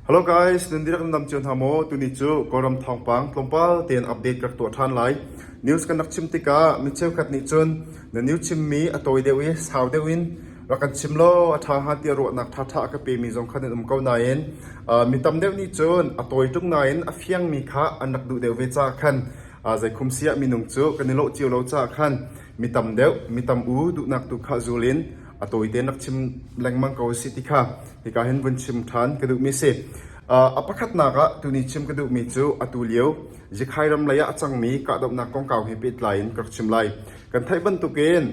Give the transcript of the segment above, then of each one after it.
Hello guys, nan dihlak nan dam cio hna maw? Tuni cu Kawlram thawngpang tlawmpal tein update ka rak tuah ṭhan lai. News kan rak chim tikah mi cheukhat nih cun na news chimmi a tawi deuh i sau deuh in rak kan chim law a ṭha hnga tiah ruahnak ṭhaṭha a ka pemi zong kha nan um ko nain uh, mi tam deuh nih cun a tawi ṭung nain a fiangmi kha an rak duh deuh ve caah khan uh, zeikhum siah minung cu kan i lawh cio lo caah khan mi tam deuh, mi tam u duhnak tu kha zul in a tawite nak chim lengmang ko si ti kha hika hin vun chim ṭhan ka duhmi si. a pakhatnak ah tuni chim ka duhmi cu atu lio Zikhai ram lei ah a cangmi kahdohnak kongkau he pehtlai in ka rak chim lai. Kan theih bantukin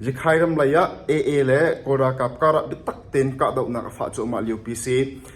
Zikhai ram lei ah AA le Kawl ralkap karah biatak tein kahdohnak a fah cuahmah lio pi si.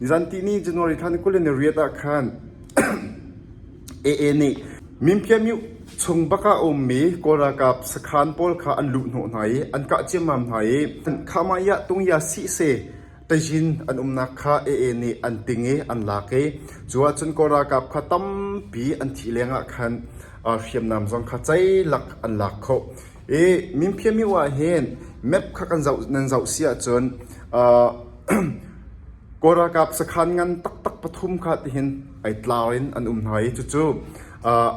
Nizanti ni January thla ni kul in ni riat ah khan AA nih Mimkhiamyuh chung bakah a ummi Kawl ralkap sakhan pawl kha an luh hnawh hna i an kah ciammam hna i Khamaya tungya sihse tazin an umnak kha AA nih an ting i an lak i cu ahcun Kawl ralkap kha tampi an thih lengah khan hriamnam zong kha ceilak an lak khawh. Mimphia mioh ahhin map kha nan zoh si ahcun Kawl ralkap sakhan ngan taktak pathum kha tihin ei tlar in an um hna i cucu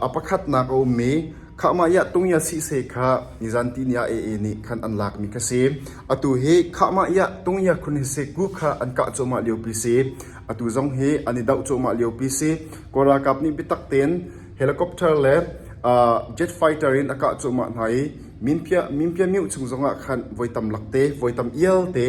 a pakhatnak a um i khahmah i a tung i a sihse kha nizan tihni ah AA nih khan an lakmi kha si. Atu hi khahmah i a tung i a khun hi si group kha an kah cuahmah liopi si. Atu zong hi an i doh cuahmah liopi si. Kawl ralkap nih biatak tein Helicopter le jet fighter in a kah cuahmah hna i minpiamyu chung zongah khan voi tamlak te, voi tam ialte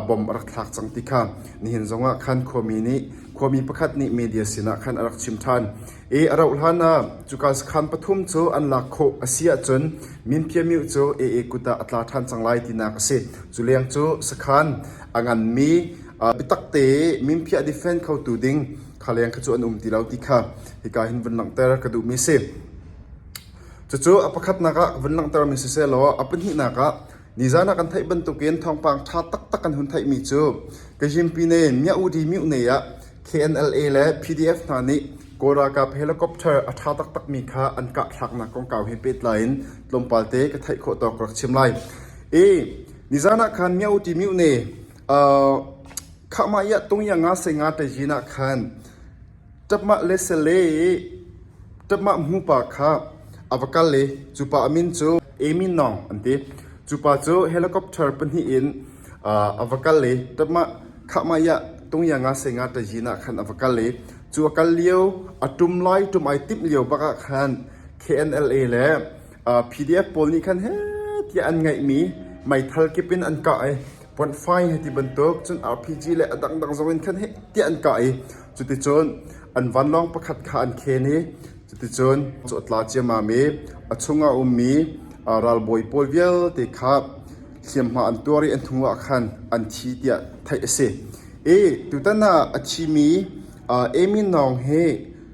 bomb a rak thlak cang ti kha nihin zongah khan khuami pakhat nih media sinah khan a rak chim ṭhan. I a rauh hlanah cuka sakhan pathum cu an lak khawh a si ahcun minpiamyu cu AA kut ah a tla ṭhan cang lai tinak a si. Cu leng cu sakhan a nganmi biatakte i minpiah defend khotu ding khaleng kha cu an um ti lo ti kha hika hin vun langhter ka duhmi si. Cucu a pakhatnak ah vun langhtermi sisehlaw a pahnihnak ah nizana kan theih bantukin thawngpang ṭha taktak kan hun theihmi cu Kazhimpine Myaudi Mutne ah KNLA le PDF hna nih Kawl ralkap helicopter a ṭha taktakmi kha an kah thlaknak kongkau he pehtlai in tlawmpalte ka theih khawh tawk ka rak chim lai. I nizana khan Myaudi Mutne Khahmah i a tung i a nga sei nga te zin ah khan ṭapmah le sale i ṭapmah hmupa kha a va kal i cupa a min cu Amy Nong an ti. Cupa cu helicopter pahnih in a va kal i ṭapmah khahmah i a tung i a nga sei nga te zin ah khan a va kal i cu a kal lio a ṭum lai ṭum ai timh lio bak ah khan KNLA le PDF pawl nih khan heh tiah an ngeihmi meithal kip in an kah i point fine hei ti bantuk cun RPG le a dangdang zong in khan heh tiah an kah i cuticun an vanlawng pakhat kha an khen i cuticun cu a tla ciamam i a chung a ummi ralbawi pawl vialte kha hliamhma an tuar i an hnu ah khan an thi tiah theih a si i tutan ah a thimi Amy Naung hi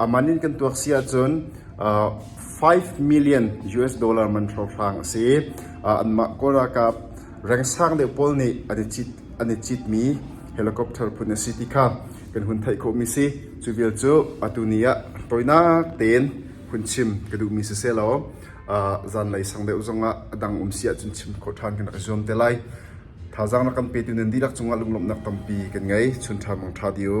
A man in kan tuak si ahcun five million US dollar man hrohrang a si. Anmah kawl ralkap rengsang deuh pawl nih an i citmi helicopter phun a si ti kha kan hun theih khawhmi si. Cu vial cu atu ni ah tawinak tein hun chim ka duhmi si seh law zanlei sang deuh zongah a dang um si ahcun chim khawh ṭhan kan rak i zuam te lai. Thazaang na kan petu nan dihlak cungah lunglawmhnak tampi kan ngei. Chun ṭha mong ṭha di u.